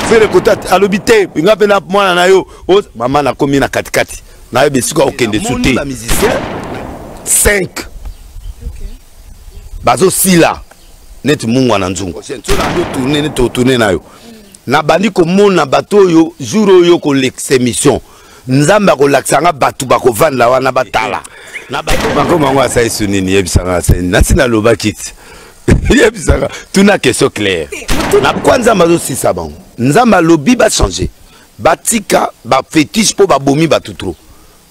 fere kota alobi te nga mpe na mwana na yo mama nakomi na katikati nayebi esika okende su te 5 bazosila neti mungwa na nzungu tourne neti otourne na yo nabandi komona bato oyo jour oyo kolekisa émission nzambe akolakisa nga bato bakovanda wana batala na bato bakoma yango asali su nini yebisa nga asali nasi nalobaki ti yebisaka tuna question claire na kwa nzambe azosisa bango nzambe alobi bachange batika bafetiche mpo babomi bato tro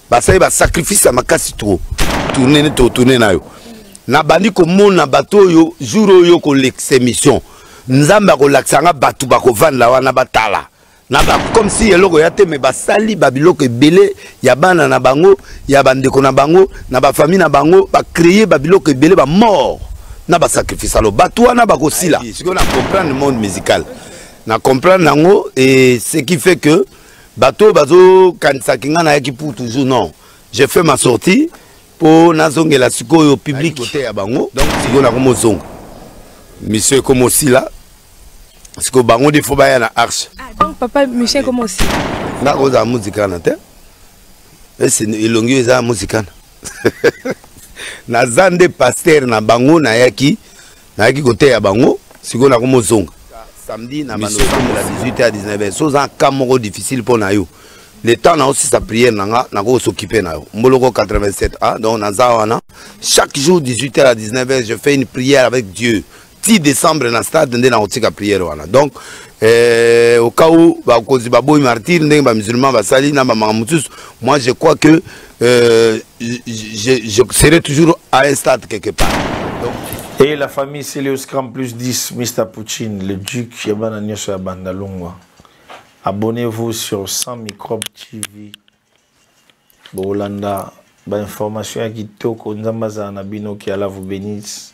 basali basacrifice ya makasi tro tourne nete otourne nayo nabandi komona bato oyo jour oyo kolekisa émission nzambe akolakisa nga bato bakovandela wana batala na ba comme si eloko ya te me basali babiloko ebele ya bana na bango ya bandeko na bango na bafamille na bango bacreye babiloko ebele bamort na basacrifice alo bato wana bakosila sikoyo na comprendre monde musical na comprendre yango e ce qui fait que bato oyo bazokanisaki ngai nayaki pour toujours non je fais ma sortie mpo nazongela sikoyo public koteya bango donc sikoyo nakomozonga mission ekoma osila sikoyo bango nde fo baya na arche ah, donc papa mission ekoma osila nga kozala muzikana te ese elongi oyo eza muzikana naza nde paster na bango nayaki nayaki koteya bango sikoyo nakomozonga samedi na banda otambola 18 à 19 heures soza cas moko difficile mpo na yo le temps naosisa prière na nga nakoki s'occuper na yo mboloko 87 a donc naza wana chaque jour 18 heures à 19 heures je fais une prière avec dieu ti décembre na stade nde nakotika prière wana donc euh, au cas où bakonzi baboyi martyr ndenge bamusulman basali na bamaka mosusu moi je crois que euh, je, je serai toujours à un stade quelque part. Donc, et la famille Célio Scram plus 10, Mr. Poutine, le duc Yabana Nyoso Yabanda Longwa. Abonnez-vous sur 100 Microbes TV. Bolanda, ba information ya kitoko, nzamba za na bino ki ala vous bénisse.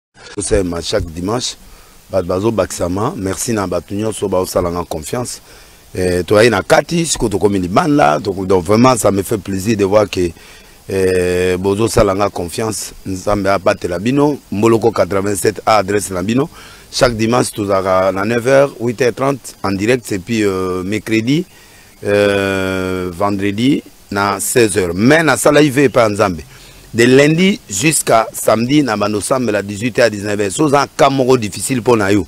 tosema chaque dimanche bato bazobakisama merci na bato nyonso baosalanga confiance eh, toyai na kati sikoyo tokomi libanda donc vraiment ça me fait plaisir de voir que eh, bozosala nga confiance nzambe abatela bino mboloko 87 a adresse na bino chaque dimanche tozalaka na 9h 8h30 en direct et puis euh, mercredi euh, vendredi na 16h mais na sala ive pa nzambe de lundi jusqu'à samedi na bando sambela 18h à 19h so za ka moko difficile pour na yo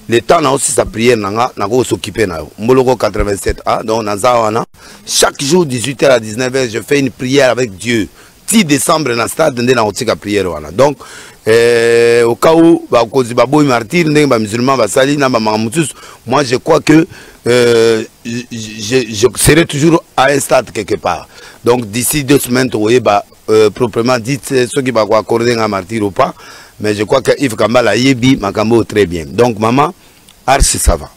le temps na aussi sa prière na nga na ko s'occuper na yo mboloko 87 ah donc na za wana chaque jour 18h à 19h je fais une prière avec Dieu ti décembre na stade nde nakotika prière wana donc eh, au cas où bakonzi baboyi martyr ndenge bamusulman basali na bamaka mosusu moi je crois que euh, je, je serai toujours à un stade quelque part donc d'ici deux semaines tokoyeba euh, proprement dit eh, soki bakoaccorde nga martyr ou pas mais je crois que ive kambala ayebi makambo oyo très bien donc maman arsi ça va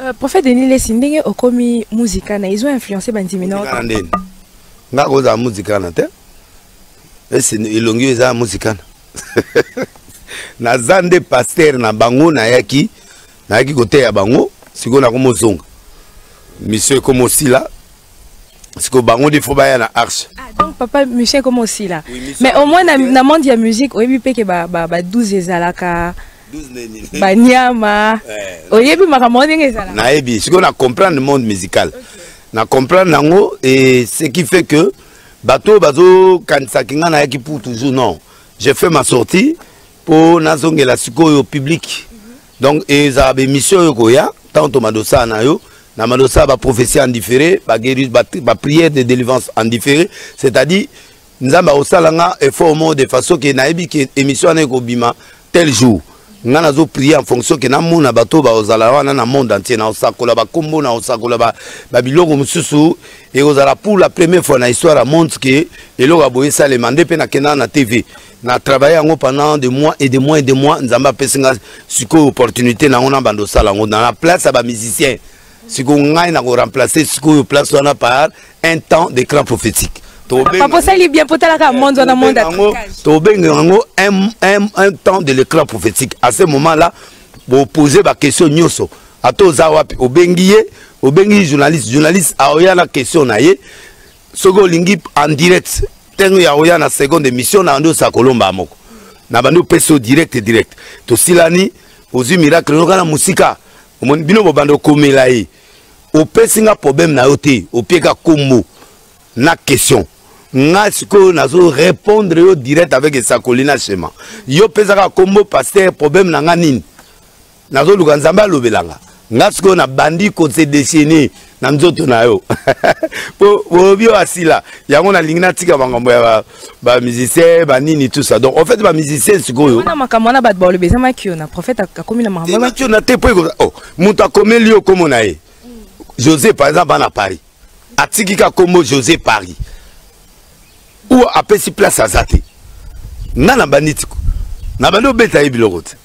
euh, prophète denis lesi ndenge okomi muzikana ezo influence bandimi na ndeni nga kozala muzikana te esi elongi oyo eza muzikana naza nde paster na bango nayaki nayaki koteya bango sikoyo nakomozonga misio ekoma osila sikoyo bango nde fo baya na arche ah, donc papa misio ekoma osila mais au moins na, na monde ya musique oyebi mpe ke ba, ba, ba 12 ezalaka baniama eh, oyebi makambo yango ndenge ezala nayebi sikoyo na comprendre monde musical okay. na comprendre yango et ce qui fait que bato oyo bazokanisaki ngai nayaki pour toujours non je fais ma sortie mpo nazongela sikoyo public mm -hmm. donc ezala bemission oyo koya ntango tomadosaa na yo na madosaa baprophétie en différé baprière ba de délivrance en différé c'est-à-dire nzambe akosala nga effort moko de façon ke nayebi ke émission wana ekobima tel jour ngai nazo prier en fonction ke namona bato oyo bakozala wana na monde entier nakosakola bakombo nakosakola babiloko mosusu ekozala pour la première fois na histoire ya monde ke eloko ya boye esalema nde mpe nakendaka na tv na travaille yango pendant de mois et de mois et de mois nzambe apesi ngai sikoyo opportunité na yango na banda osala yango na place ya bamusicien siko ngai na ko remplacer sikoyo place wana par un temps de cran prophétique papa osali bien mpo otalaka monde wana monde tobenga yango un temps de l'écran prophétique à ce moment là bopose baquestion nyonso ata oza wapi obengi ye obengi journaliste journaliste aoya na question na ye soki olingi en direct ntango ya oya na seconde émission na bandi osa kolomba moko na bandi opesa yo direct direct tosilani ozwi miracle noka na mosika omoni bino bobanda okomela ye opesi nga problème na yo te opieka kombo na question nga sikoyo nazo répondre yo direct avec esakoli na shema yo pesaka kombo paster problème na nga nini nazoluka nzambe alobela nga nga sikoyo nabandi kose dessiner na nzoto na yo po bobi oyo asila yango nalingi natika makambo ya bamusicien banini tout ça donc en fait bamusicien sikoyo na makambo wana bato balobi eza makio na prophète akomi na makambo makio na te po ekoza o oh, moto akomeli yo komo na ye josé par exemple bana paris atiki ka kombo josé paris ou apesi place aza te nga na banditiko na bandi obeta ye biloko te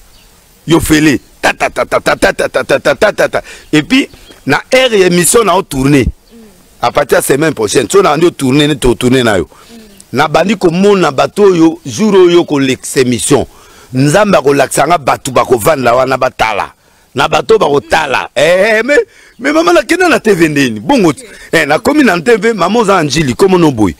yo fele tatatatatatatatatatatata et puis na heure ya émission na otourne à partir ya semaine prochaine so na nde otourne neti otourne na yo nabandi komona bato oyo jour oyo kolekisa émission nzambe akolakisa nga bato bakovanda wana batala na bato bakotala eh, eh, eh, mais me mama nakenda na tv ndeni bongo eh, nakomi na tv mama oza na njili komono boye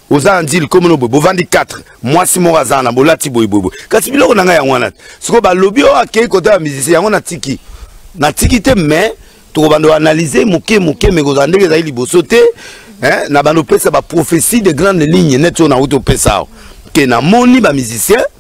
oza na njili komono boye bovandi 4 mwasi moko aza na bolati boyeboyeboye kasi biloko na ngai yango wana te sikoyo balobi oyo oh, akei kota ya musicien yango natiki natiki te mais tokobanda koanalyse moke moke me kozala ndenge ezali liboso te eh, na banda opesa baprophétie de grande ligne neti oyo nauti opesa awa ke namoni bamusicien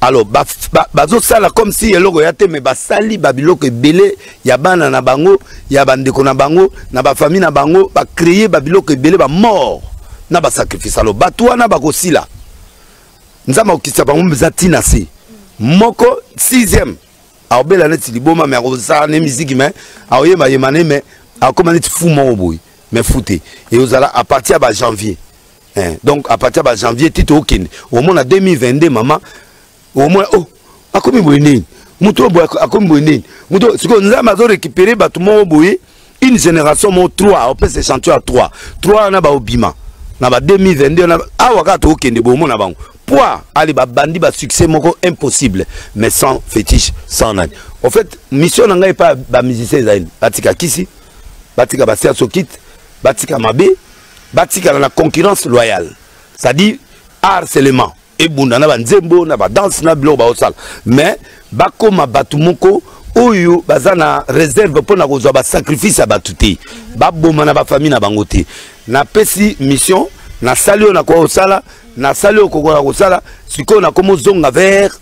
alors bazosala ba, ba comme si eloko ya te me basali babiloko ebele ya bana na bango ya bandeko na bango na bafamille na bango bacreye babiloko ebele bamort na basacrifice alo bato wana bakosila nzambe akokitisa bango mpenza ntina se moko sixième akobela neti liboma me akosala ne miziki me akoyebayema ne me akokoma neti fu moko boye me fu te eozala à partir ya bajanvier eh, donc à partir ba janvier ti tokende omona 2022 mama omona oh akomi boye nini moto oyo boye akomi boye nini moto sikoyo nzambe azorécupere bato moko boye une génération moko 3 opesa échantillon ya 3 3 wana baobima na ba 2022 na awa kaka tokokende boye omona bango poids ale babandi basuccès moko impossible mais sans fétiche sans nani au fait mission na ngai epai bamusicien ezali batika kisi batika basiasokite batika mabe batikala na concurrence loyale c'est-à-dire harcèlement ebunda na banzembo na badanse na biloko baosala mais bakoma bato moko oyo baza na réserve mpo na kozwa basacrifice ya bato te baboma na bafamille na bango te napesi mission nasali oyo nakoka kosala nasali oyo kokoka kosala sikoyo nakomozonga vers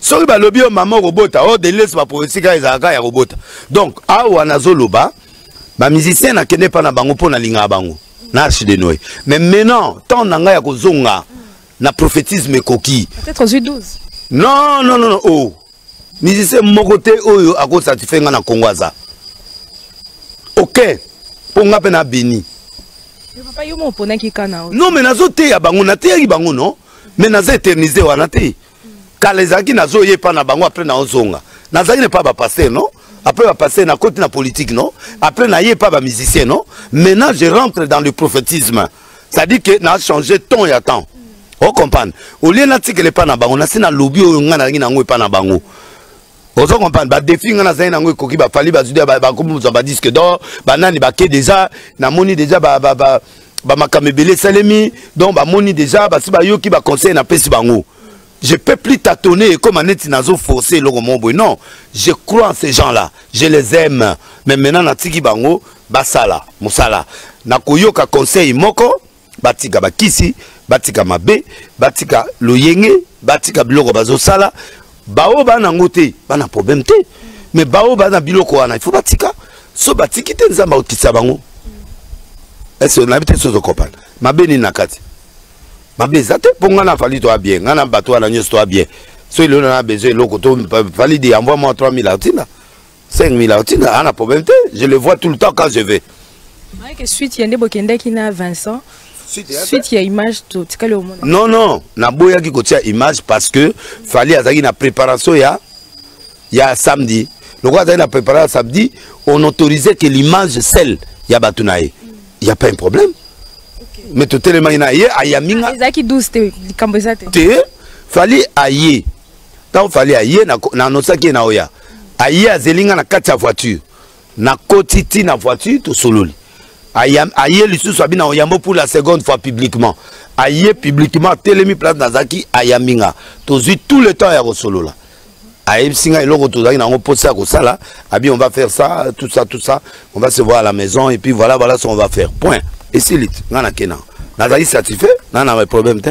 soki balobi yo mama okobota o oh, deliles bapolitike ayo ezalaka ya kobota donc awa nazoloba bamusicien nakende mpa na bango mpo nalingaka bango na arche de noe mais maintenant temps na ngai ya kozonga na prophétisme ekoki non non non o oh. musicien moko te oyo akosatisfai ngai na kongo aza ok mpo ngai mpe na beni non mais nazoteya bango nateyaki bango non mais naza éternise wana te kala ezalaki nazoya epa na bango apres naozonga nazalaki na epa bapaster non après bapaster na koti na politique non après naye epa bamusicien non maintenant je rentre dans le prophétisme c'est-à-dire que na change temps ya temps ocomprendre olie natikela epa na bango nasi nalobi oyo ngai nalangi na yango epa na bango ozo comprendre badefi ngai nazali nango ekoki bafali bazwi bakomi kozwa badisque dor banani bake deja namoni deja bamakambo ebele esalemi donc bamoni deja basi bayoki baconseil napesi bango je peux plus tâtonner ekoma neti nazo force eloko moko boye non je crois en ces gens là je les aime mais maintenant natiki bango basala mosala nakoyoka conseil moko batika bakisi batika mabe batika loyenge batika biloko bazosala baoyo baa nango te bana problème te mais baoyo baa na biloko wana ifo batika so batiki te nzambe aotisa bango ese nayebi te sozo kopana mabe nini na kati mabe eza te mpo ngai na fali toya bien ngai na bato wana nyonso toya bien soki lelo na besoin eloko to fali de envoi mwa 3000 atina 5000 aotinda aa na problème te je le vois tout le temps quand je vais ayeke suite ya nde bokendaki na vincent suite ya image totikali omona non non naboyaki kotia image parce que fali azalaki na préparation ya ya samedi lokola azalaki na préparation ya samedi on autorisait que l'image celle ya bato na ye il y a pas un problème okay. mais totelemaki na ye ayami nga ezalaki 12 te likambo eza te te fali aye ntango fali aye na anosaki ye na oya aye azeli nga na kati ya voiture nakoti ti na voiture tosololi aye lisusu abi na oyambo pour la seconde fois publiquement aye publiquement atelemi place nazalaki ayambi nga tozwi tout le temps ya kosolola ayebisi nga eloko tozalaki nango mposa ya kosala abi on va faire ça tout ça tout ça on va se voir à la maison et puis voilà voilà ce qu'on va faire point esiliti nga nakena nazali satisfait na na problème te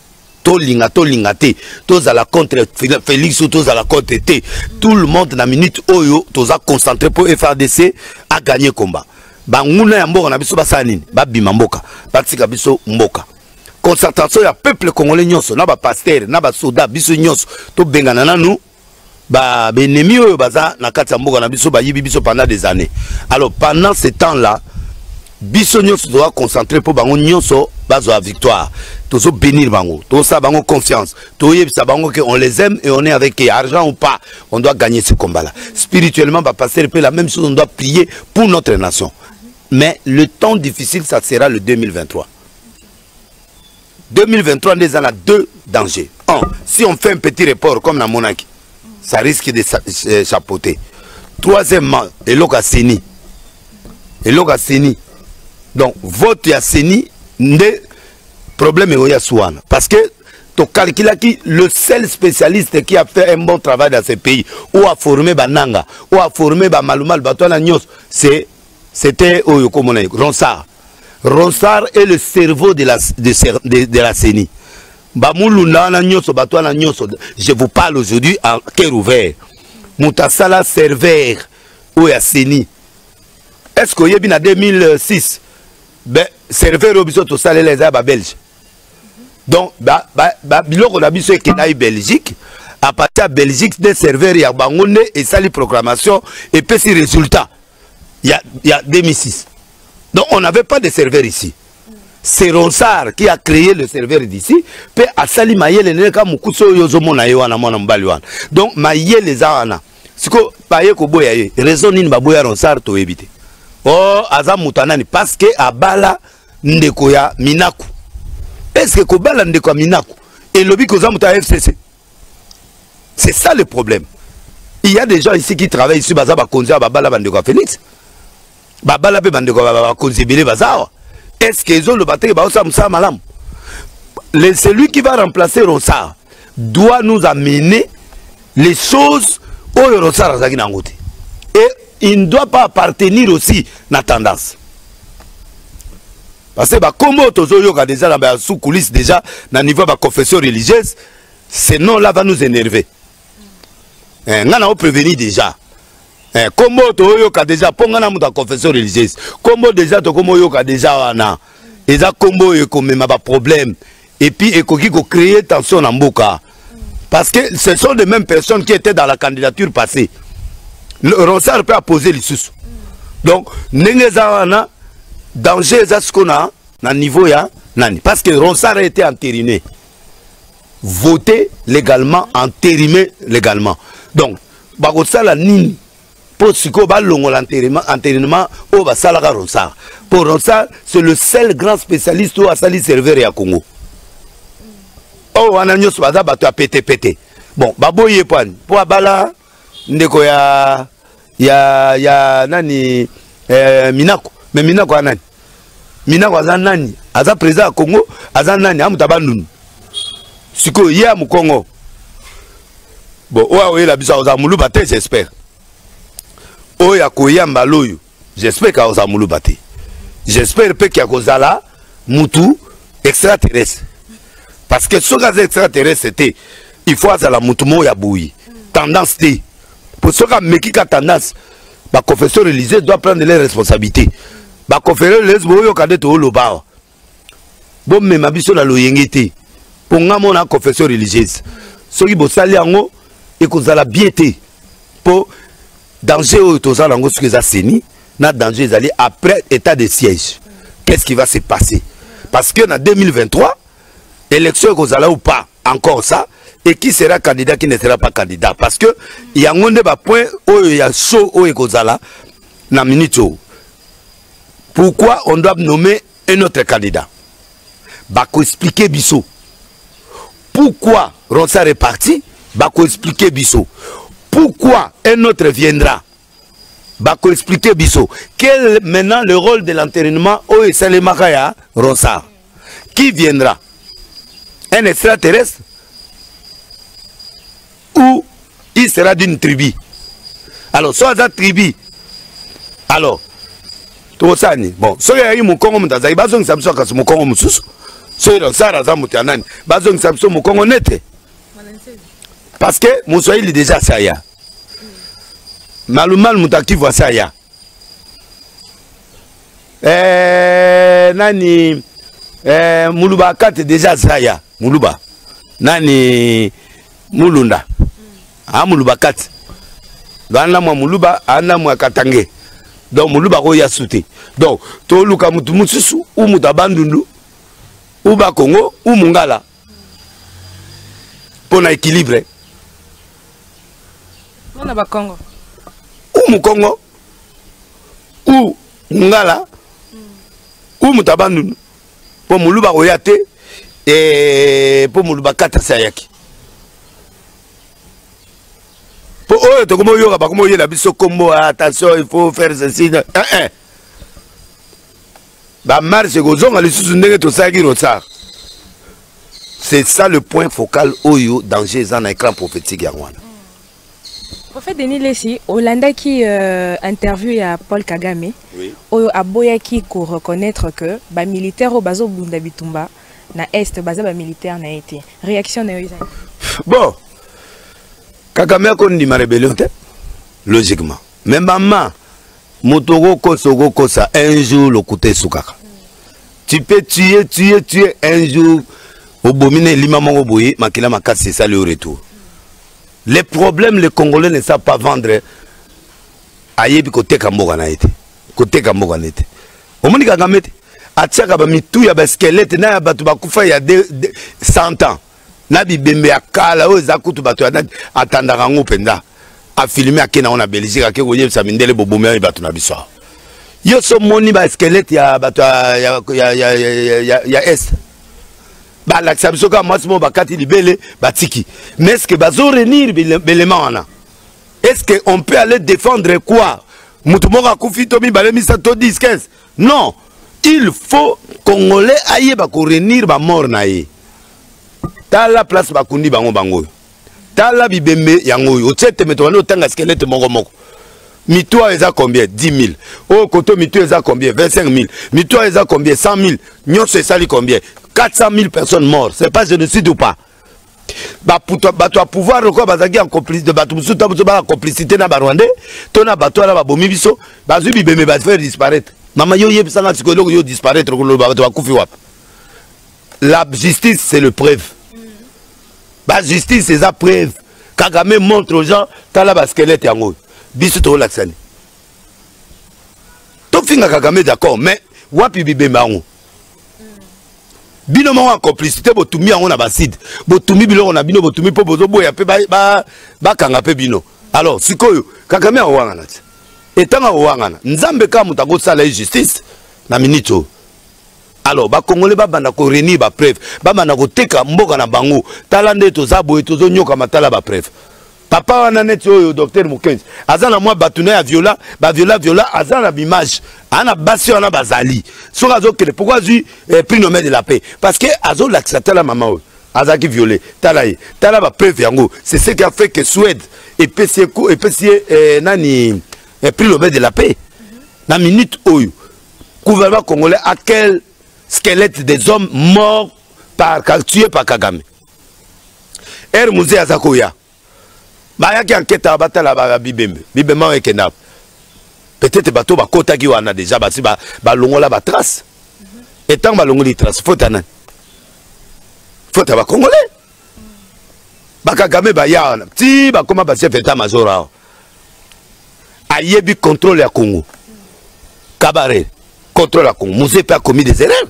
tolinga tolinga te tozala contre félix ou tozala contre te tout le monde na minute oyo toza concentré mpo frdc aganye combat banguna ya mboka na biso basala nini babima mboka batika biso mboka concentration ya peuple congolais nyonso na bapaster na basoda biso nyonso tobengana nanu ba benemi oyo baza na kati ya mboka na biso bayibi biso pendant des années alors pendant ce temps là biso nyonso toza concentré mpo bango nyonso bazwa victoire tozo bénir bango tosala bango confiance toyebisa bango que on les aime et on est avec eux argent ou pas on doit gagner ce combat là spirituellement bapasteur mpe la même chose on doit prier pour notre nation mais le temps difficile ça sera le 2023 2023 nde eza na deux dangers un si on fait un petit report comme na monaki ça risque de euh, chapeauter troisièmement eloko ya seni eloko ya seni donc vote ya seni nde problème eoyo ya suana parce que qui le seul spécialiste qui a fait un bon travail dans ce pays ou a formé bananga ou a formé bamalumalu bato wana nyonso c'était oyo komona ronsard Ronsard est le cerveau de la, de, de, de la CENI. Bamulunda wana nyonso bato wana nyonso je vous parle aujourd'hui en cœur ouvert moto asala serveur oyo ya CENI est ce que oyebi na 2006 ben, serveur oyo biso tosalela eza ya babelge donc ba, ba, ba, biloko na biso ekendaki belgique à partir ya belgique nde serveur ya bango nde esali programmation epesi résultat il y a, il y a 2006. Donc on n'avait pas de serveur ici. C'est Ronsard qui a créé le serveur d'ici. Puis Asali Mayele Neka Mukuso Yozomo na Yoana Mwana Mbali Wana. Donc Mayele Zawana. Siko Paye Koboya Ye. Raison Nini Baboya Ronsard to éviter. Oh, Aza Mutanani. Parce que Abala Ndeko ya Minaku. Est-ce que Kobala Ndeko ya Minaku? Et Lobi Kozamuta FCC. c'est ça le problème il y a des gens ici qui travaillent ici baza bakonzi awa babala bandeko ya félix babala mpe bandeko ya bakonzi ebele baza awa est ce que ezoloba teke baosala mosala malamu le celui qui va remplacer rosar doit nous amener les choses oyo rosar azalaki na yango te et il ne doit pas appartenir aussi na tendance parce que bakombo oyo tozoyoka deja na ba sous coulisse deja na niveau ya baconfession religieuse ce nom là va nous énerver eh, ngai nao préveni deja eh, kombo oyo toyoyoka deja mpo ngai na moto ya confession religieuse kombo deja tokomi oyoka deja wana eza kombo oyo ekomema baproblème et puis ekoki ko créer tension na mboka parce que ce sont les mêmes personnes qui étaient dans la candidature passée le ronsard peut apposer lisusu donc ndenge eza wana danger eza siko na na niveau ya nani parce que ronsard a été entériné voté légalement entérimé légalement donc bakosala nini mpo sikoyo balongola enterainement oyo basalaka ronsard mpo ronsard c'est le seul grand spécialiste oyo asali serveur ya congo oyo oh, wana nyonso baza bato ya petepete bon baboyi ye pani mpo abala ndeko ya ya ya nani eh, minako me minako ya nani minako aza nani aza président ya congo aza nani amuta bandundu sikoyo ye ya mokongo bon oyo akoyela biso akozala moluba te j'espère oyo akoya mbala oyo j'espère ke akozala moluba te j'espère mpe ke akozala mutu extraterrestre parce que soki aza extraterrestre te il faut azala mutu moko ya boye tendance te mpo soki ameki ka tendance baconfession religieuse doit prendre les responsabilité baconfession religieuse boyoka nde tooloba awa bomema biso na loyenge te mpo nga mona confession religieuse soki bosali yango ekozala bien te mpo danger oyo toza nango soki eza seni na danger ezali après état de siège qu'est ce qui va se passer parce que na 2023 élection ekozala ou pas encore ça et qui sera candidat qui ne sera pas candidat parce que yango nde bapoint oyo ya show oyo ekozala na minute oyo pourquoi on doit nommer un autre candidat bakoexplike biso pourquoi ronsar est parti bakoexplike biso pourquoi un autre viendra bakoexplike biso quel maintenant le rôle de l'enterrainement oyo esalemaka ya ronsar qui viendra un extraterrestre ou il sera d'une tribu alors soit aza tribu alors tokosala nini bon soki ayaki mokongo moto azali bazongisa biso kasi mokongo mosusu soki losara aza moto ya nani bazongisa biso mokongo nete parce que moswahili deja asi aya malumalu moto akivu asi aya eh, nani eh, muluba akate deja zaya muluba nani mulunda a muluba kati bana mwa muluba ana mwa katange donc muluba akoya su te donc toluka motu mosusu u moto abandundu u bakongo u mongala mpo na équilibre mpo na bakongo u mokongo ou mungala ou moto ya bandundu mpo moluba akoya te eh, mpo moluba katasi ayaki mpo oyo tokomi oyoka bakomi oyela biso nkombo ah, attention il faut faire ceci eh, eh. bamarche ekozonga lisusu ndenge tosalaki rotsar c'est ça le point focal oyo danger eza na écran prophétique yango wana Prophète Denis Lessi, olandaki euh, interview ya Paul Kagame oui. oyo aboyaki ko reconnaître que ba militaires oyo bazo bunda bitumba na est baza ba militaires na été. Réaction na yo ezali. Bon. Kagame akondima rebellion te logiquement. Mais maman moto okokosa okokosa un jour lokuta esukaka. Tu peux tuer tuer tuer un jour obomi na elima moko boye makila makasi esali yo retour. le problème le congolais ne savent pas vendre ayebi koteka mboka na ye te koteka mboka na ye te omoni kagame te atiaka bamitu ya baskelete na ya bato bakufa ya 100 ans na bibembe ya kala oyo eza kutu bato atandaka yango mpenza afilme ake nango na belgique ake koyebisa mindele bobomi oyo bato na biso awa yo so omoni baskelete ya bato ya, ya, ya, ya, ya, ya, ya est balakisa biso kaka mwasi moko bakati libele batiki mais est ce que bazo renir belema wana est ce que on peut aller défendre quoi moto moko akufi to mibale misato to 10 15 non il faut congolais ayeba korenir bamort na ye tala place bakundi bango bango oyo tala bibembe yango oyo otie tembe tobandi otanga skelete moko moko mitu ayo eza combien 10 000 oyo koto mitu eza combien 25 000 mitu ayo eza combien 100 000 nyonso esali combien 400 000 personnes mortes c'est pas génocide ou pas bato ya pouvoir lokola bazalaki ya complicité bato mosusu ta mosusu baa complicité na barwandais to na bato wana babomi biso bazwi bibembe bafaire disparaître mama yo oyebisanga sikoyo eloko yo disparaître koloba bato bakufi wapi la justice c'est le preuve ba justice eza preuve kagame montre aux gens tala ba squelette yango oyo biso tokolakisani tofinga kagame d'accord mais wapi bibemba yango bino moko ya complicité botumi yango na baside botumi biloko na bino botumi mpo bozoboya mpe bakanga ba, ba mpe bino alors sikoyo kagame akowangana te etango akowangana nzambe kaka moto akosala ye justice na minute oyo alors bakongole babanda ko réunir bapreuve babanda koteka mboka na bango tala nde toza boye tozonyoka matala bapreuve papa wana neti oyo docteur mokenzi aza na mwa bato na ya viola baviola viola aza na bimage aa na basi wana bazali soki azokende pourkoi azwi eh, prix nomel de la paix parce que azolakisa tala mama oyo azalaki viole tala ye tala bapreuve yango c'est ce qui a fait que suède epesi ye eh, nani eh, prix nomel de la paix na minute oyo gouvernement congolais a quel squelette des hommes morts par tué par kagame ere muzee aza koya bayaki ankete ya batala ba bibembe bibembe yango ekenda peut-être bato bakotaki wana déjà basi balongola ba batrace e ntango balongoli trace fota nani fota bacongolais bakagame baya wana ti bakoma bachef etat major awa ayebi contrôle ya congo kabare contrôle ya congo mose mpe akomi des erreurs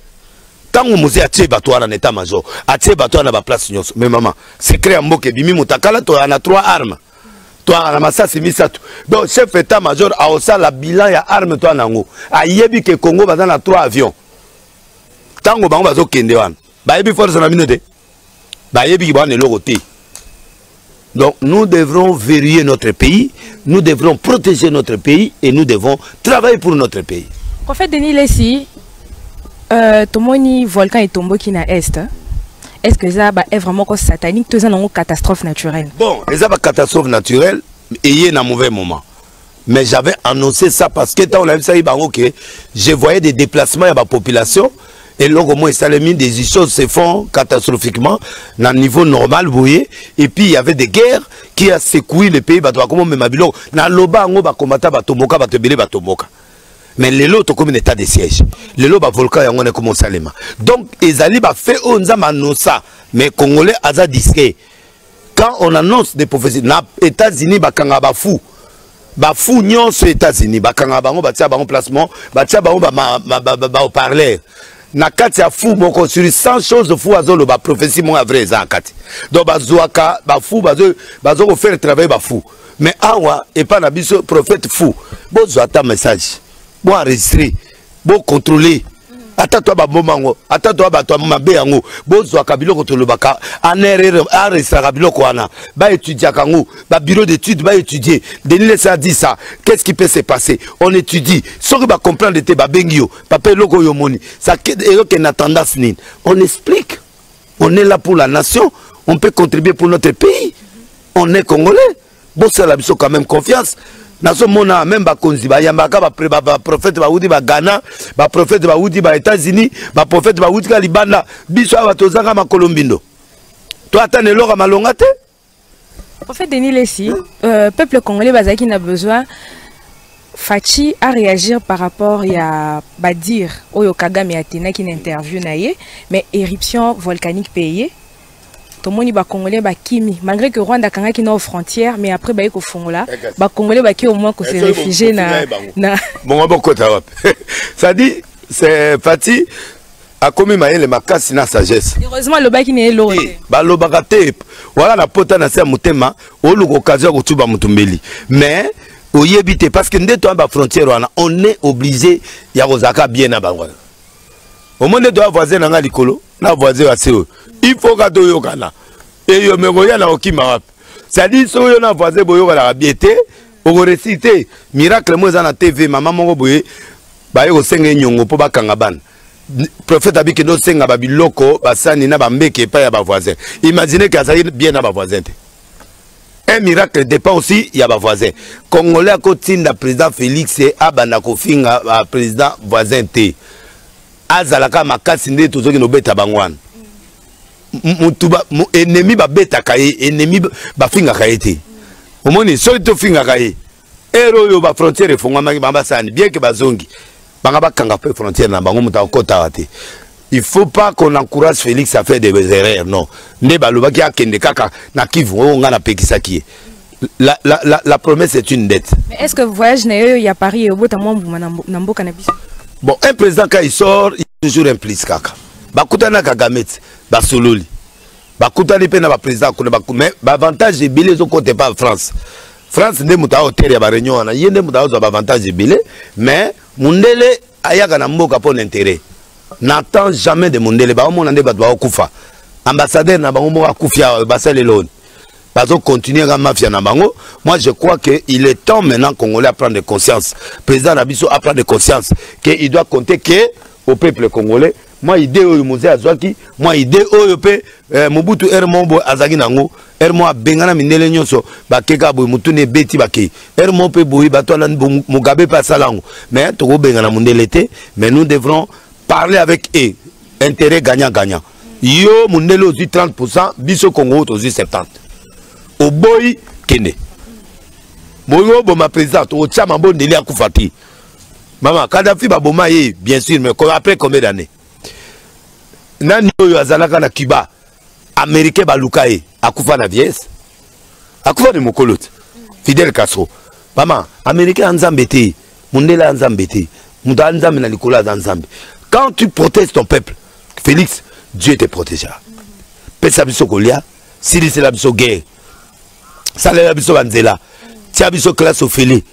ntango mose atie bato wana na etat major atie bato wana na baplace nyonso me mama secret ya mboka ebimi motakala toya na trois armes toyaka na masasi misato donc chef etat major aosala bilan ya arme toya na yango ayebi ke congo baza na trois avions ntango bango bazokende wana bayebi force na bino te bayebi ki bawana eloko te donc nous devrons verrouiller notre pays nous devrons protéger notre pays et nous devons travailler pour notre pays en fait denis lesi euh, tomoni volcan etomboki na est hein? est ce que eza baevre moko satanique to eza nango catastrophe naturelle bon eza bacatastrophe naturelle eye na mauvais moment mais j'avais annoncé ça parce que ntango nayebisaki bango que je voyais des déplacements ya bapopulation eloko moko esalemi des choses se font catastrophiquement na niveau normal boye et puis il y avait des guerres qui a secoué le pays bato bakoma omema biloko naloba yango bakomata batomboka bato ebele batomboka mais lelo tokomi na état de siège lelo bavolcan yango wana ekoma osalema donc ezali bafe oyo nzambe anosa mais congolais aza disque quand on annonce des prophéties na états-unis bakanga bafou bafou nyonso états-unis bakanga bango batia bango placement batia bango baoparleur na kati ya fou moko sur 100 choses fou azoloba prophétie moko ya vrai eza na kati donc bazwaka bafou bazo kofaire travaille bafou mais awa epai na biso prophète fou bozwa ata message boenregistre bocontrole ata to baboma yango ata to bato mabe yango bozwaka biloko tolobaka anrr aregistraka biloko wana baétudiaka yango babureau d'étude baétudie denis lesa dit ça qu'est ce qui peut se passer on étudie soki bacomprendre te babengi yo papa eloko oyo omoni eyokende na tendance nini on explique on est là pour la nation on peut contribuer pour notre pays on est congolais bosala biso quand même confiance nazomona meme bakonzi bayambaka baprofete bawuti ba ghana baprofete bawuti ba états-unis baprofete bawuti ka libanda biso awa tozanga makolo mbindo to ata na eloko ya malonga te en fait denis lesi euh, peuple congolais bazalaki na besoin Fachi a réagi par rapport à Badir, Oyo Kagame a tenu une interview, mais éruption volcanique payée. tomoni bacongolais bakimi malgré que rwanda akangaki nao frontière mais après baye kofongola bacongolais baki au moins kose réfugie na bongo bokota wapi cestadi fati akomi mayele makasi na sagesse heureusement alobaki na ye eloko te eh, balobaka te wana na pota na se ya motema oluka occasion ya kotuba motu mbeli mais oyebi te parce que nde toya bafrontière wana on est obligé ya kozalaka bien na bango wana omoni nde toya voisin na ngai likolo na voisin ya se oyo il faut ka toyokana eyo me koya na kokima wapi cestadire soki oyo na voisin boyokanaka bie te okoresi te miracle mo eza na tv mama moko boye baye kosenga ye nyongo mpo bakanga bana prophète abikende osenga babiloko basani na bambeke epai ya bavoisin imagine ke azali bien na bavoisin te un miracle dépend aussi ya bavoisin congolais akotinda président félix abanda kofinga président voisin te azalaka makasi nde tozoki nobeta bango wana mutu ennemi babetaka ye ennemi bafingaka ye te omoni soki tofingaka ye ere oyo bafrontière efongwamaki bango basani bien ke bazongi banga bakanga mpe frontière na bango moto akotaka te il faut pas qu'on encourage félix à faire des erreurs non nde balobaki akende kaka na kivu oyo ngai napekisaki ye la, la, la, la promesse est une dette. Mais est-ce que voyage na yo ya Paris au bota mwa mbuma na mboka na biso? Bon, un président quand il sort, il est toujours impliqué kaka. Bakutana Kagame, basololi. Bakutani pe na ba président kuna baku mais ba avantage ebele ezo kote pa France. France nde moto aotere ya ba réunion wana, ye nde moto azwa ba avantage ebele mais mundele ayaka na mboka mpo na intérêt. N'attend jamais de mundele, ba omona nde bato baokufa. Ambassadeur na bango moko akufi awa basaleloni. bazo continuer ka mafia na bango moi je crois que il est temps maintenant congolais à prendre conscience président na biso à prendre conscience que il doit compter que au peuple congolais moi idée oyo mozee azwaki moi idée oyo mpe eh, mobutu r mo boye azalaki nango r mo abengana mindele nyonso bakeka boye motuna ebeti bakei r mo mpe boye bato alani mugabe mpe asala yango mais tokobengana mondele te mais nous devrons parler avec e intérêt gagnant gagnant yo mondele ozwi 30 pourcent biso congo tozwi 70 oboyi kende boyi oboma président tokotya mambo ndeli akufa te mama kadafi baboma ye bien sûr mais après combien d'année nani oyo azalaka na cuba américain baluka ye akufa na vieillesse akufa na mokolo te fidel castro mama américain ya nzambe te mundele ya nzambe te moto aza nzambe na likolo aza nzambe quand tu protèges ton peuple félix dieu te protégea pesa biso kolia silisela biso guerre salela biso banzela tia biso classe ofele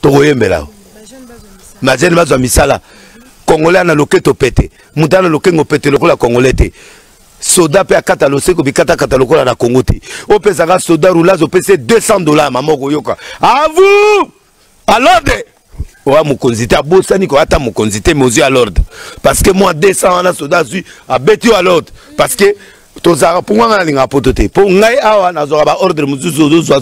tokoyembela majene bazwa misala congolais na loketo pete moto ana lokengo pete lokola congolais te soda mpe akata loseko bikatakata lokola na kongo te opesaka soda roulage opesi 200 dollar mama okoyoka avu alode oya mokonzi te abosani koya ata mokonzi te mozwi ya lorde parce que mwa 200 wana soda azwi abeti yo ya lorde parce que tozalaka mpo ngai nalingaka poto te mpo ngai awa nazwaka baordre mosusu ozozwa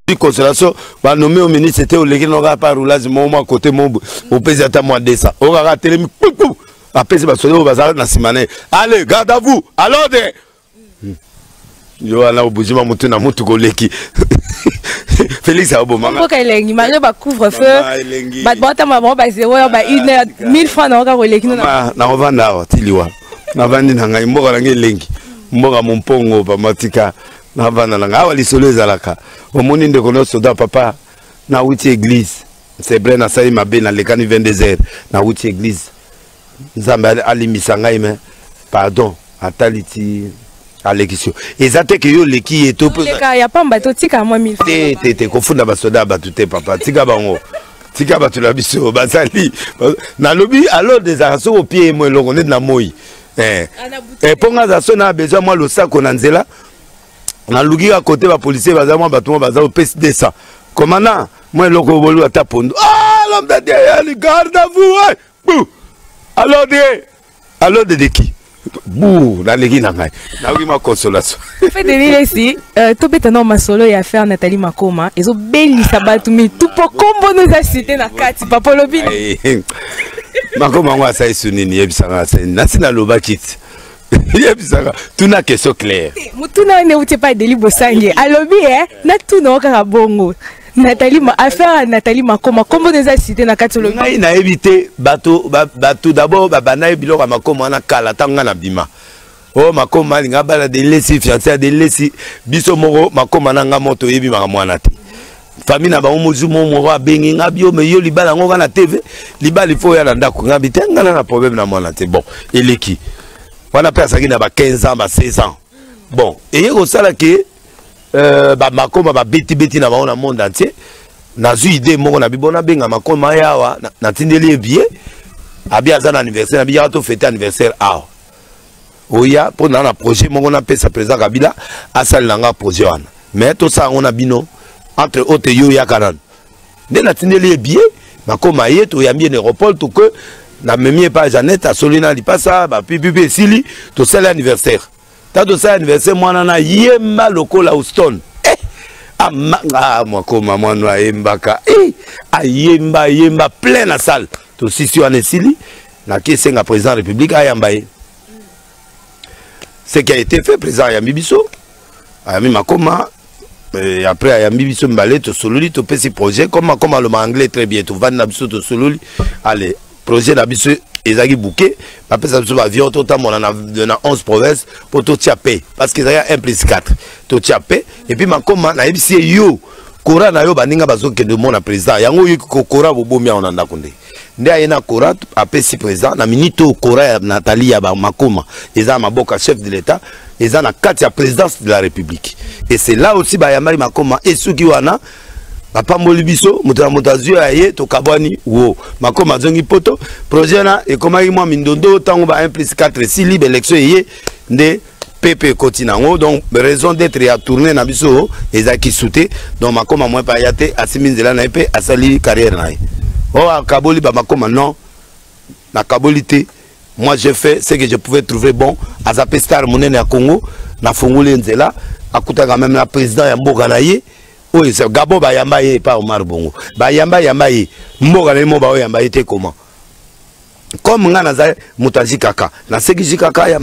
di consolation banome yo ministre te oleki nokaka pa roulage moko mwa kote mo opesi ata mwa 200 okaka atelemi kpupu apesi basoda oyo baza na nsima na ye ale garde à vous alode hmm. yo wana obuzima motu na motu koleki Félix a bon maman. Pourquoi il est malgré ba couvre feu. Ba bota maman ba zéro ba ah, une heure 1000 francs na oka koleki na. Ah, na ovanda wa tiliwa. Na vandi na ngai mboka na ngai lengi. Mboka mompongo ba matika na vanda na ngai awa lisolo ezalaka. Omoni ndeko no soda papa na wuti église. c'est vrai nasali mabe nalekani 22 heures nawuti église nzambe alimbisa ngai me pardon atali ti alekisi yo eza te ke yo oleki ye te te te kofunda basoda ya bato te papa tika bango tika bato na biso bazali nalobi alors ezalaka soki opie ye mo eloko neti na moi eh. ah, eh, mpo ngai aza so na besoin mwa losako na nzela naluki ka kote bapolisier baza mwa bato mwa baza opesi 200 komanda mwa eloko oyo bolu ata pondu ah, l'homme de dieu yali garde à vous eh! bu alors de alors de deki bu naleki na ngai nayoki mwa consolation fedelilesi euh, tobeta nao masolo ya fer natali makoma ezobelisa bato mitu mpo kombo no eza site na kati papa olobi makoma yango asalisi nini yebisanga nasi nalobaki ti yebisaka tuna question claire motuna wana euti epai deli bosange alobi e eh, natuna o kaka bongo natali affaire ya natali makoma nkombo na eza site na kati olobi ngai nayebi te bato bato dabord babanda ye biloko ya makoma wana kala ntango ngai na bima o oh, makoma alinga abala delesi fiance ya delesi biso moko makoma na ngai moto oyebi makambo wana te famille na bango mozwi mo moko abengi nga bio me yo libala yango kaka na tv libala ifo oya na ndako nga bi te nga na na problème na mwana te bon eleki wana mpe azalaki na ba 15 ans ba 16 ans bon eye kosala ke euh, bamakoma babetibeti na bango na monde entier nazwi idée moko na bibo nabenga makoma ye awa natindeli ye biye abi aza na anniversaire na biyaka tofete anniversaire awa oya mpo na na projet moko napesa président kabila asalela nga projet wana mais tosala yango na bino entre autres yo oyaka nano nde natindeli ye bie bakoma ye toyambi ye na aéroport toke namemi ye pa janete asoli na lipasa bapipipi esili tosali anniversaire ta tosali anniversaire mwana na yemba lokola houston eh! amanga ah, mwakoma mwana ayembaka eh! ayemba ayemba plein na salle tosisi wana esili naki esenga président ya république ayamba ye ce qui a été fait président ayambi biso ayambi makoma euh, et après ayambi biso mibale tosololi topesi projet comme makoma aloma anglais très bien tovandi na biso tosololi ale projet na biso ezalaki bouke bapesa biso baavion totambola na, na 11 province mpo totia pe parce que ezalaki 1 plus 4 totia pe epuis makoma nayebisi ye yo kora na yo baninga bazokende omona président yango oyoki kokora bobomi yango na ndako nde nde aye na cora apesi président na minute oyo cora ya natali ya makoma eza ya maboka chef de l'état eza na kati ya présidence de la république et c'est là aussi bayambaki makoma esuki wana bapamboli biso moto na moto azwi ya ye tokabwani wo makoma azongi poto projet wana ekomaki mwa mindondo ntango ba 1 plus 4 esili baélection eye nde pepe ekoti na yango donc raison d'être ya tourne na biso ezalaki su te donc makoma mwa epai ya te asimbi nzela na ye mpe asali carrière na ye o oh, akaboli bamakoma non nakaboli te moi je fais ce que je pouvais trouver bon aza mpe star monene ya congo nafungoli ye nzela akutaka meme na président ya mboka na ye oyo eza gabo bayamba ye epa omar bongo bayamba yamba ye mboka na ye mo baoyamba ye te comment comme nga naza moto azi kaka naseki zi kaka ya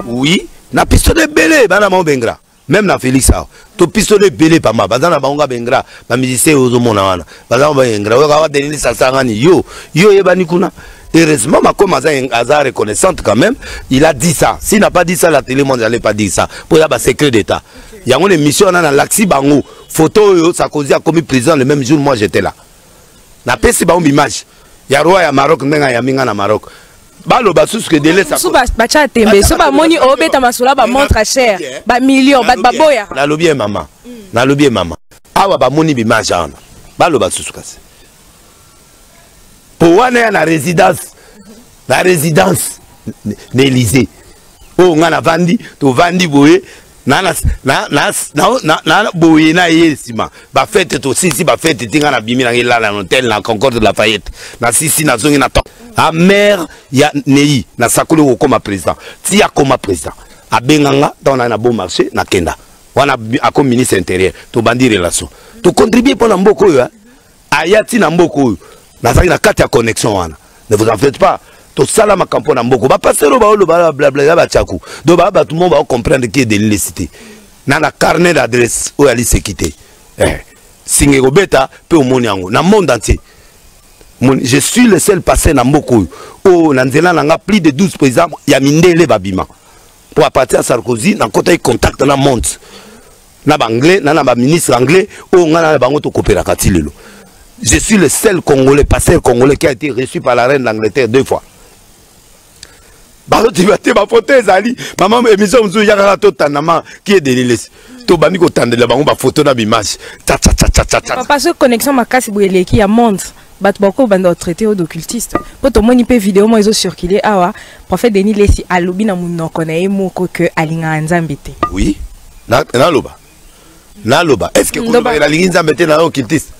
oui na pistone ebele bana mao bengra même na félix awa to pistone ebele pamba baza na bango nga bengra bamusicien oyo ozomona wana baza baengra oyoka awa denis asangani yo yo oyebani kuna Heureusement, Macom a reconnaissante quand même. Il a dit ça. S'il n'a pas dit ça, la télé monde n'allait pas dire ça. Pour y avoir secret d'État. Il y a une émission, on a laxi bango. Photo, ça causé a commis prison le même jour, moi j'étais là. Na pesi ba image ya roi ya Maroc ndenga ya minga na Maroc. baloba susu ke dele sasu batya tembe so bamoni obeta masolo ba montre cher ba million bato baboya nalobi ye mama mm. nalobi ye mama awa bamoni bimage wana baloba susu kasi po wana ya na résidence na résidence na Élysée oyo ngai navandi tovandi boye na na na na na na na boye na ye nsima bafete tosisi bafete ti ngai nabimi nange elala na hotel na concorde de la fayette nasisi nazongi na temps amare ya nei nasakoli kokoma président ti akoma président abenga nga ntango naye na bon marché nakenda wana akomi ministre intérieur tobandi relation tocontribue mpo na mboka oyo aya ti na mboka oyo nazalaki na kati ya connexion wana ne vous en faites pas tosala makambo mpo na mboko bapasero baolo blablabla ya batyaku donc baa bato mo baocomprendre ki edeni lesi te na na carnet d'adresse oyo aliseki te eh. singa ekobeta mpe omoni yango na monde entier je suis le seul passé na mboka oyo oyo oh, na nzela na nga plus de 12 président ya mindele babima mpo apartir ya sarkozy nakotaki contact na monde na ba anglais na na ba ministre anglais oyo ngai na bango tokopelaka ti lelo je suis le seul congolais pasteur congolais qui a été reçu par la reine d'angleterre deux fois baloteba te bafoto ezali mama émission mosusu ya kaka totandama qui est delilesi tobandi kotandela bango bafoto na bimage papa soki connexion makasi boye eleki ya monde bato bakoki obanda otraite oyo d'occultiste mpo tomoni mpe video moko ezocircule awa prophète denis lesi alobi na monoko na ye moko ke alingaka nzambe te oui naloba naloba est ce que koloba nalingi nzambe te nayo kiltiste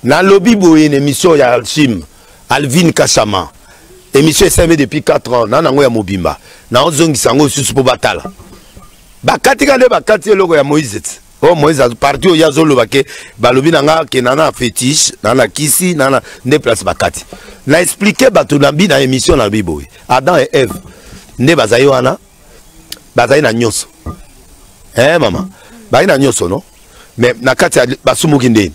nalobi boye na émission ya alchime alvine kashama émission esalemi depuis 4 ans na nango ya mobimba naozongisa yango lisusu mpo batala bakatika nde bakati eloko ya moïse ti o oh, moïse parti oyo azoloba ke balobi na nga ke nana fétiche nana kisi nana nde place bakati na explike bato na bi na émission nalobi boye adam et eve nde bazali wana bazali na nyonso eh mama bazali na nyonso no mais na kati ya basumuki ndeni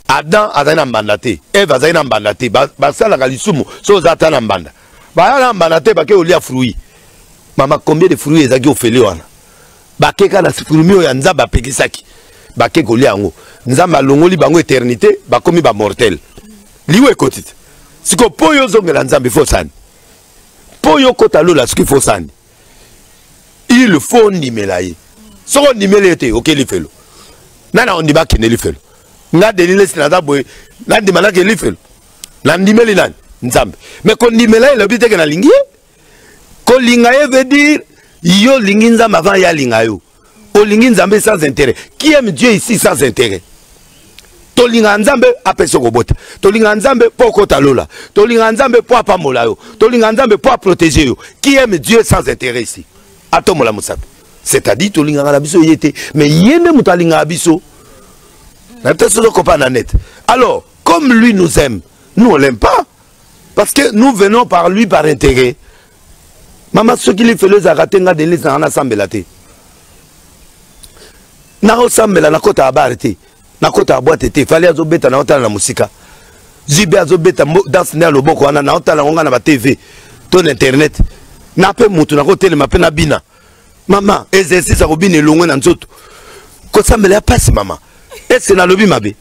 adam azali na mbanda te eve azali na mbanda te basalaka lisumu so oza ata na mbanda baya na mbanda te bake olia fruit mama combien de fruit ezalaki ofele wana bakeka na fruit oyo ya nzambe apekisaki bake kolia yango nzambe alongoli bango eternité bakomi bamortel liwa ekoti te sikoyo mpo oyo ozongela nzambe fo osani mpo yo okota lola soki fo sani il faut ondimela ye soki ondimeli ye te oke lifelo nani akondima akende lifelo nga delilesi naza boye nandima nake lifelo nandimeli nani nzambe me kondimela ye elobi teke nalingi ye kolinga ye veut dire yo olingi nzambe avant ye alinga yo olingi nzambe sans intérêt qui aime dieu ici sans intérêt tolingaka nzambe apesa okobota tolingaka nzambe mpo okota lola tolingaka nzambe mpo apambola yo tolingaka nzambe mpo aprotege yo qui aime dieu sans intérêt ici atombola mosapi c'est-à-dire tolingaka na biso ye te mais ye nde moto alingaka biso na peut-être soki okopa na net alors comme lui nous aime nous on l'aime pas parce que nous venons par lui par intérêt mama soki lifelo ezalaka te nga denise nanga nasambela te nakosambela nakota ya bare te nakota ya bwate te fali azobeta naotala na mosika jb azobeta danse nde ya loboko wana naotala yango nga na batv to na internet na mpe motu nakotelema mpe na bina mama exercice ya kobina elongwe na nzoto kosambela ya mpasi mama ese nalobi mabe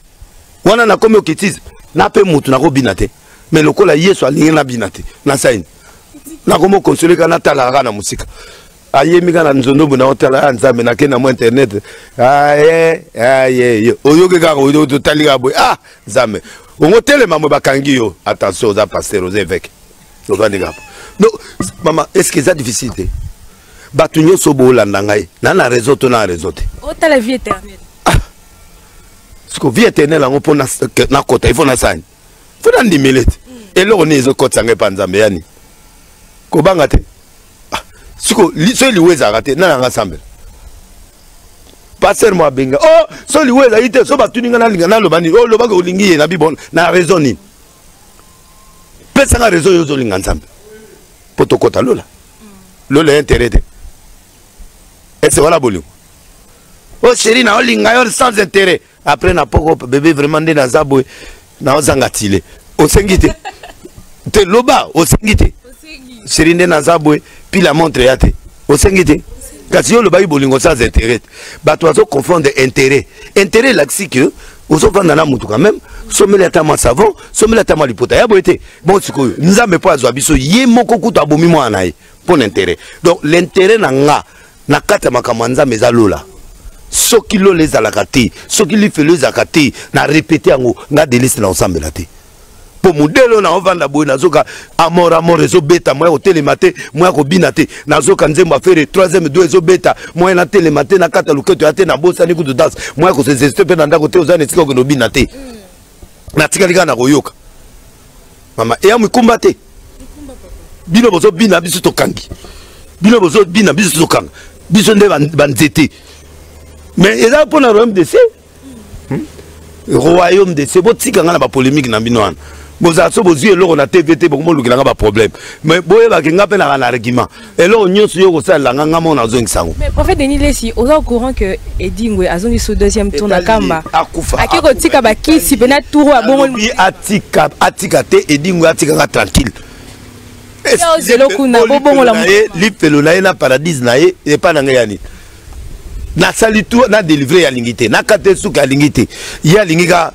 wana nakomi okitise na mpe motu nakobina te me lokola yesu alingi nabina te nasaini nakomi okonsole ka natalaka kaka na mosika ayemi kaka na nzondobo na otala ya ah, nzambe nake na mwa internet aye ah, aye ah, oyoki kaka otali kaka boye ah nzambe ongo telema mwe bakangi yo attention oza pasteur oza eveke ovandi kaka donc mama est ce que eza difficile te bato nyonso boolanda ngai na na réseau to na réseau te otala vie éternel ah. siko vie éternel yango mpo nakota ifo nasani fo nandimele te mm. eloko nini ezokotisa ngai mpa nzambe yani kobanga te ah. siko soki liwa ezalaka te nani anga sambela paster mo abenga o oh, so liwa ezali te so batuni ngai nalinga naloba nini oloba oh, ke olingi ye na bibona na raison nini pesa nga reseau yo ozolinga nzambe mpo tokɔta lola lola ya intérêt te ese wana bolingo o oh, sheri na olinga yo sans intérêt après na poko bebe vraiment nde naza boye naozanga tile osengi te te loba osengi te sheri nde naza boye pila montre ya te osengi te kasi yo olobaki bolingo sans intérêt bato bazo confondre intérêt intérêt elakisi ke ozofanda na motu quand même someli ata mwa savon someli ata mwa lipota ya boye te bon sikoyo nzambe mpo azwa biso ye moko kutu abomi mwana na ye mpo na intérêt donc l'intérêt na nga na kati ya makambo ya nzambe eza lola soki lola ezalaka te soki lifelo ezalaka te na repete yango nga delise na kosambela te mpo modele oyo naovanda boye nazoka amor amor ezobeta moya kotelema te moya kobina te nazoka nzembo afere troisième do ezobeta moya natelema te nakata loketo ya te nabosani kutu danse moya kosezeste mpe na ndako te oza na esika okende obina te natikali kaka na koyoka mama eya mikumba te bino bozobina biso tokangi bino bozobina biso tokanga biso nde banzete mais eza mpo na royaume de ciel hmm? royaume de se botika ngai na bapolémike na bino wana bozala so bozwi eloko na tv te bokomolukela nga baproblème mais boyebaki nga mpe naka na argument eloko nyonso yo okosalela nga nga mona azongisa yango mais prophète denis lesi oza au courant que edingwe azongi so deuxième tour na kamba akufa ake kotika bakisi mpe na tour ya bongo atika atika te edingwe atika nga tranquille lipelo na ye na paradise na ye epai na ngai ya nini nasali tu na delivre ya lingi te nakate suka ya lingi te ye alingi ka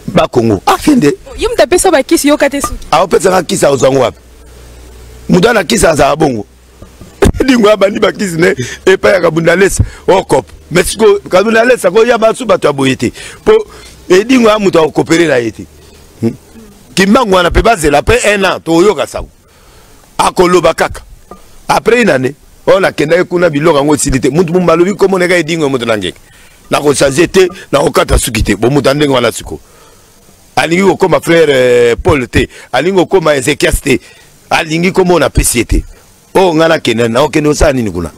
bakongo akende ah, yo moto apesa bakisi yo kate suki aopesaka kisi akozwa yango wapi moto ana kisi azala bongo dingo abandi bakisi ne epai ya kabundalesa okop oh, mais siko kabundalesa koya basu bato ya boye te mpo edingo ya moto akokopelela ye te hmm. kimbangu wana mpe bazela mpe un an tokoyoka sango akoloba kaka après une année oyo oh, nakendaki kuna biloko yango esili te mutu momo alobi komona eka edingo ya moto na ngeke nakochange te nakokata suki te bomuta ndenge wana sikoyo alingi kokoma frère euh, paul te alingi kokoma ezekias te alingi komona apesi ye te oyo oh, ngai nakende nakokende osala nini kuna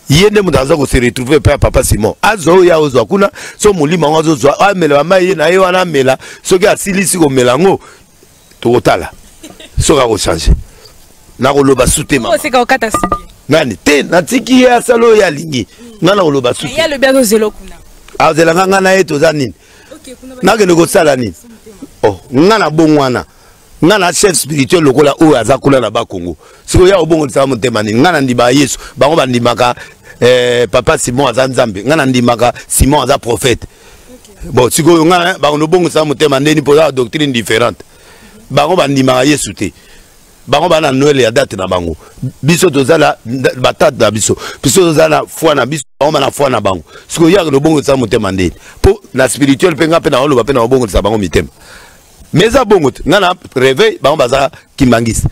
ye nde moto aza kose retrouve mpe ya papa simon azwa oyo ye aozwa kuna so molimo yango azozwa amela bamai ye na ye wana amela soki asilisi komela yango tokotala soki akochange nakoloba sutema nani te natiki ye asala oyo alingi ngai nakoloba suazelaka ngai na ye toza nini nakende kosala nini oh, ngai na bongo wana ngai na chef spirituel lokola oyo aza kuna na bakongo sikoyo ya obongolisaka motema nini ngai nandimaka yesu bango bandimaka eh, papa simon aza nzambe ngai nandimaka simon aza prophète bon sikoyo ngai eh, bakondo bongosa motema ndeni mpo ozala doctrine différente bango bandimaka yesu te bango bana noele ya date na bango biso toza na batate na biso biso toza na foi na biso bango bana foi na bango sikoyo yaka nobongolisa motema ndeni mpo na spirituel mpe ngai mpe na oloba mpe na obongolisa bango mitema mais eza bongo te ngai na reveil bango baza kimbangisi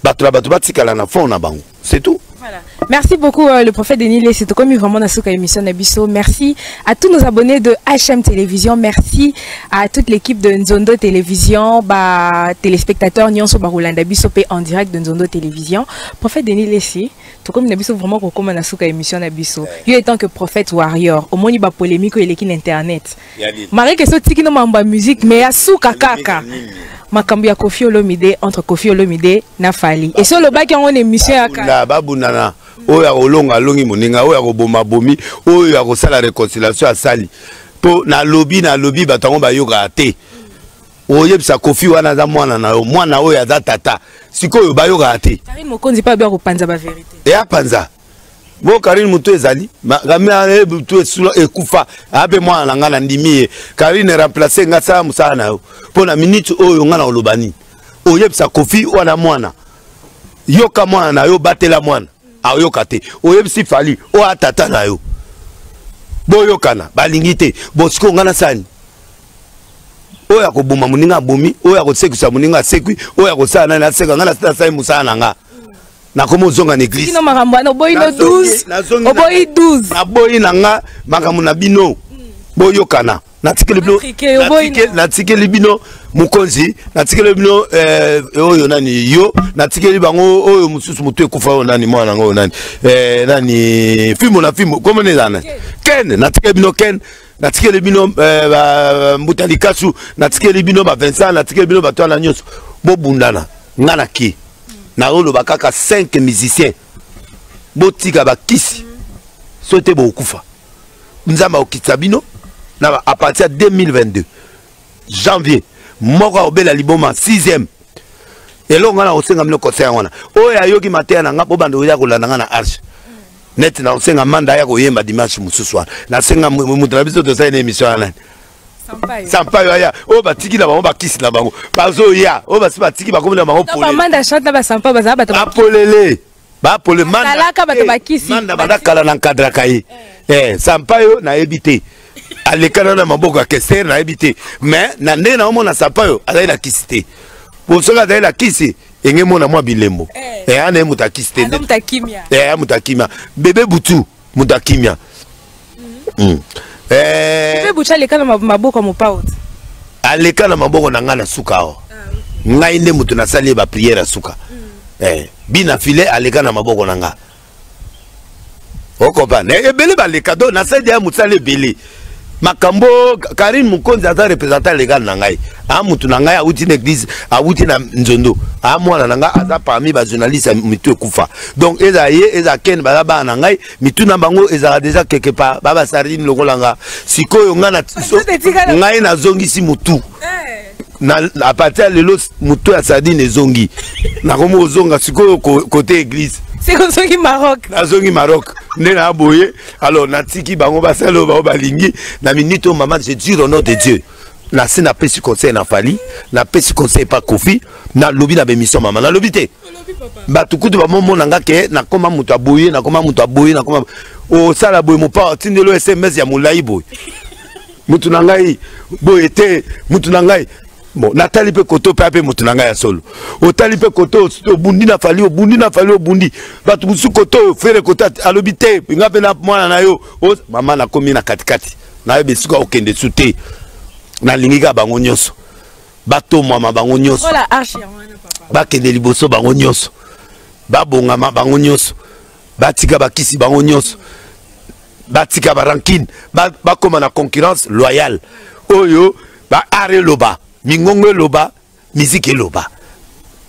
bato na bato batikala na fond na bango c'est tout Voilà. Merci beaucoup euh, le prophète Denis Lé, c'est comme vraiment dans ce émission Nabiso. Merci à tous nos abonnés de HM Télévision, merci à toute l'équipe de Nzondo Télévision, bah téléspectateurs Nyonso Barolanda Biso P en direct de Nzondo Télévision. Prophète Denis Lé, c'est comme Nabiso vraiment comme dans ce émission Nabiso. Il est temps que prophète warrior, au moins il va polémique il est internet. Mareke so tiki no mamba musique mais ya suka kaka. makambo ya kofi olomide entre kofi olomide na fali esi olobaki yango na émission ya kala babundana oyo akolonga alongi moninga oyo akoboma bomi oyo akosala réconciliation asali mpo nalobi nalobi bato yango bayokaka te oyebisa kofi wana aza mwana na yo mwana oyo aza tata sikoyo bayokaka te mokonzi mpe abi akopanza baverité eapanza bo karine motu ezali makambe butu esula ekufa abe mwana na ngai nandimi ye karine remplace ngai sala mosala na yo mpo na miniti oyo ngai na oloba nini oyebisa kofi wana mwana yoka mwana na yo batela mwana ayoka te oyebisi fali oyo atata na yo boyokana balingi te bosiko ngai nasani oyo akoboma moninga abomi oyo akosekisa moninga asekwi oyo akosala nani aseka ngai nasala mosala na ngai nakomi ozonga na eglise kino makambo wana oboyi no 12 oboyi 12 naboyi na nga makambo na bino hmm. boyokana natikeli bino natikeli bino mokonzi natikeli bino eh, oyo nani yo natikeli bango oyo mosusu motu ekufa oyo nani mwana yango oyo nani eh, nani fimbo na fimbo komona eza nani ken natikeli bino ken natikeli bino eh, mbuta likasu natikeli bino ba vincent natikeli bino bato wana nyonso bobundana nga na ki naoloba kaka 5 musicien botika bakisi so te bokufa nzambe akokitisa bino na à partir ya 2022 janvier moko akobela liboma 6e eloko ngai nakosenga bino conseil yango wana oyo ayoki mateya na ngai mpo bando oya kolanda ngai na arche neti nakosenga manda ya koyemba dimanche mosusu wana nasenga moto na biso tosali na émission ya nani sampayo aya oyo batiki na bango bakisi na bango bazoya oyo basi batiki bakomi na bango polele bapole manda banda kala na nkadraka ye eh. eh, sampayo nayebi te alekana na maboko ya kestere nayebi te mais na ndenge naomona sampayo azali na kisi te po soki azali na kisi enge mona mwa bilembo eh. eh, ana ye moto akisi te aya moto akimia bebe butu moto ya kimia hmm. eh. mpe bucha aleka na maboko ya mopao aleka na maboko na ngai na suka awa ah, ngai nde moto nasali ye bapriere ya suka hmm. eh, bina file aleka na maboko na ngai okompane ebele baleka do nasali ya mosala ebele makambo karine mokonzi aza représentant legal na ngai a motu na ngai awuti na église awuti na nzondo a mwana na ngai aza parmi bajournaliste ya mitu ekufa donc ezala ye ezala ken baza bana na ngai mitu na bango ezala deja quelque part ba basardine lokola nga sikoyo ngai nazongisi motu eh. na a partir ya lelo moto ya sardine ezongi nakomi kozonga sikoyo kote église sikoyo ozongi maroc nazongi maroc nde na boye alors natiki bango basala oyo bango balingi na minute oyo mama je dire au nom de dieu nase napesi conseil na fali napesi conseil epa kofi nalobi na bemission mama nalobi te bato kutu bamomona nga ke nakoma moto aboye nakoma moto aboye nakoma osala boye mopa otindelo sms ya molai boye mutu na ngai boye te mutu na ngai bon natali mpe koto mpe ape moto na ngai ya solo otali mpe koto obundi na fali obundi na fali obundi bato mosusu koto oyo fere koto alobi te nga mpe na mwana na yo mama nakomi na katikati nayebi esika okende su te nalingi kaka bango nyonso batomama bango nyonso bakende liboso bango nyonso babongama bango nyonso batika bakisi bango nyonso batika ba rancune bakoma na concurrence loyale oyo ba art eloba mingongo eloba miziki eloba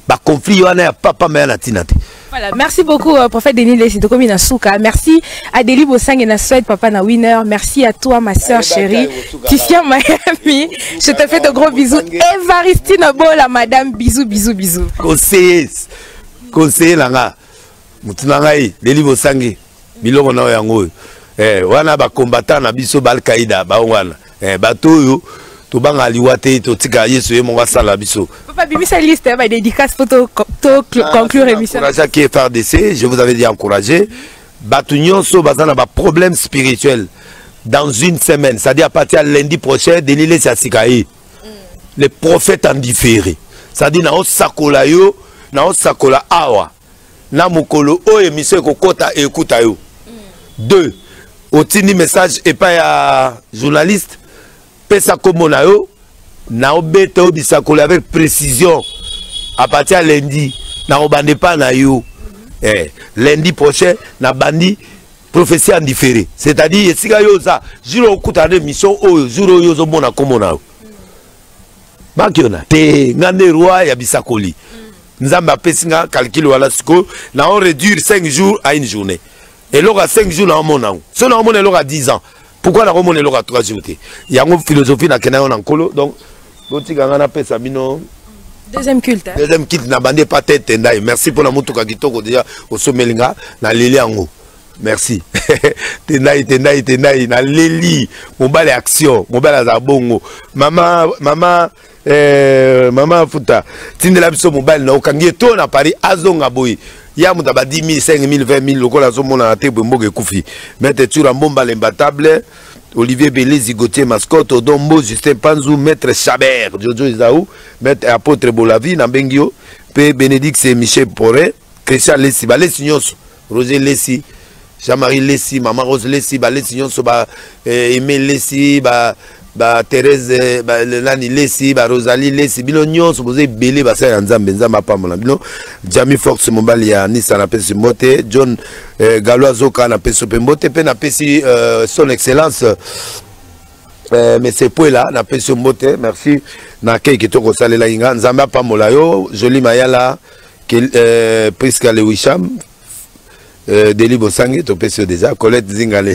baconflit wana ya papa maya na ntina te Voilà, merci beaucoup euh, prophète Denis Lessi de Komina Souka. Merci à Deli Bossang et Naswed, papa na winner. Merci à toi ma soeur chérie. Tifian Miami, je te fais de gros bisous. Evaristine Bola madame, bisous bisous bisous. Conseiller, conseiller langa. Mutunangai, Deli Bossangi. biloko na yango oyo eh, wana bakombatan na biso baalkaida bango wana eh, bato oyo tobanga liwa te totika yesu ye moko asala biso papa bimisa liste ya badédicace mpo toconclure ah, émission encourageaki frdc je vous avais dit encouragé bato nyonso baza na baproblème spirituel dans une semaine c'est-à-dire à partir ya lundi prochain denis lesi asika ye mm. le prophète en différé c'est-à-dire naosakola yo naosakola awa na mokolo oyo emission ekokota ekuta yo mm. deux otindi message epai ya journaliste pesa nkombo na yo naobeta yo bisakola avec précision à partir ya lundi nakobanda epai na yo mm -hmm. eh, lundi prochain nabandi prophétie ya ndifere c'est-à-dire esika yo oza jour okutana na émission oyo jour oyo ozomona nkombo na yo mm. bakiona te nga nde roi ya bisakoli mm. nzambe apesi nga calcul wana sikoyo na on réduire 5 jours à une journée eloko ya 5 jours na omona yango so na omona eloko ya 10 ans pourquoi na komona eloko ya 3 jours te yango philosophie nakenda yango na nkolo donc botika nga napesa bino deuxième culte hein? deuxième culte na bande epa te etendai merci mpo na motuka kitoko deja osomeli nga na leli yango merci tendai tendai tendai naleli mobali action mobali aza bongo mama mama Eh, mama afuta tindela biso mobali na okangi ye to na paris azonga boye ya moto aba 10 000 5 000 20 000 lokola azomonana te boye mboka ekufi maitre tsura mbomba lembatable olivier belezi gautier mascotte odon mbo justin panzu maître chaber jojo ezau maître apôtre bolavi na mbengi yo mpe bénédicte michel pore christian lesi balesi nyonso Roger Lesi, Jean-Marie Lesi, Maman Rose Lesi, ba Lesi nyonso ba eh, Aimé Lesi, ba ba Thérèse eh, ba Lelani Lesi, ba Rosalie Lesi, bino nyonso bozo ebele ba ya Nzambe, Nzambe apambola bino. Jamie Fox mobali ya Nisa na pesi mbote, John eh, Galois Zoka na pesi pe mbote pe na pesi euh, son excellence eh, monsieur Puela na pesi mbote, merci na kei kitoko salela inga. Nzambe apambola yo, Jolie Mayala. Kel, euh, Prisca Lewisham, euh, Deli Bosangue, Topesio déjà, Colette Zinga, le,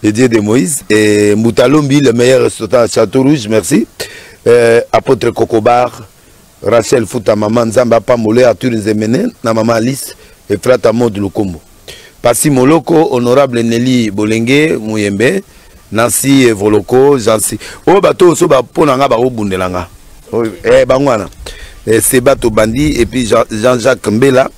le, dieu de Moïse, et Moutalombi, le meilleur restaurant à Château Rouge, merci. Euh, Apôtre Kokobar, Rachel Futa, maman Nzamba Pamole, Arthur Nzemene, na maman Alice, et Frata Maud Lukombo. Pasi Moloko, Honorable Nelly Bolenge Muyembe, Nancy Evoloko, Jansi. Oh bato so ba pona nga ba obundela nga. Oh, eh bangwana. Eh, Seba Tobandi et puis Jean-Jacques Mbela.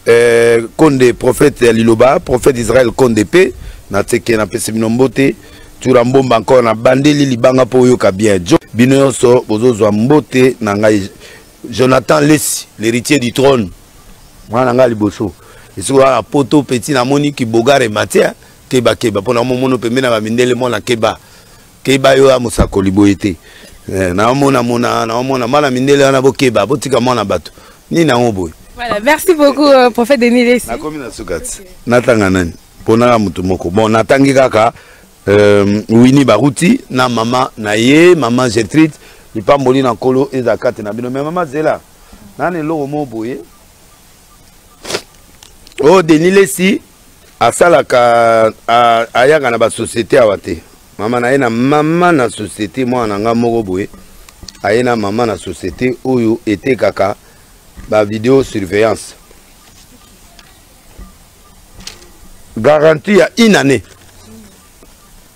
Eh, Konde prophète ya Liloba, prophète Israël Konde P. Na teke na pesi bino mbote. Tura mbomba encore na bandeli libanga po oyoka bien. Jo, bino yonso bozozwa mbote na ngai Jonathan Lessi, l'héritier du trône. mwana na ngai liboso esiko kaka poto peti namoni kibogare matière keba keba mpo namomono pembe na bamindele mwana keba keba yo ya mosakoli boye te eh, naomona mona naomona mwana mindele wana bokeba botika mwana bato nini yango boye Voilà, merci beaucoup, euh, prophète Denis Lessi. Nakomi na sukati. Natanga nani? Ponaka mutu moko. Bon, natangi kaka euh, wini baruti na mama na ye mama getride lipamboli na nkolo ezala kati na bino me mama zela nani eloko moko boye o oh, denis lesi asalaka ayaka na basociété awa te mama na ye na mama na société mwana na ngai moko boye aye na mama na société oyo etekaka bavideo surveillance garantie ya une année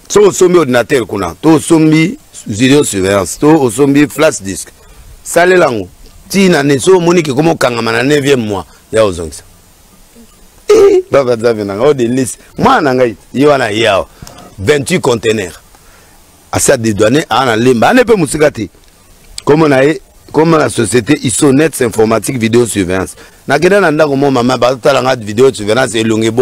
so osombi ordinateur kuna to osombi video surveillance to osombi flash disk salela yango ti na ne so omoni kekoma okangama na 9e mois ya ozongisa eh, baba nzambe na ngai o denise mwana na ngai ye wana ye awa 28 contenaire asi adedwane aa na lemba ane mpe mosika te komo na ye comme la société isonets informatique vidéo surveillance nakenda na ndako mo mama bazotala nga vidéo surveillance elongi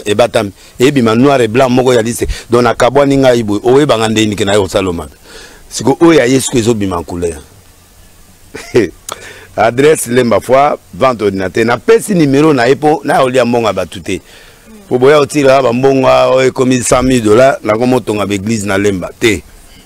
ebatami ebima noir et blanc moko ya lise donc nakabwani ngai boye oyebanga nde nike naye kosala mabe siko oyo ya ye siko ezobima couleur adresse lemba fois vente ordinateur napesi numero na ye mpo nayolia mbongo ya bato te mpo boya otila bambongo oyo ekomi 100 000 dollar nakomotonga baeglise na lemba te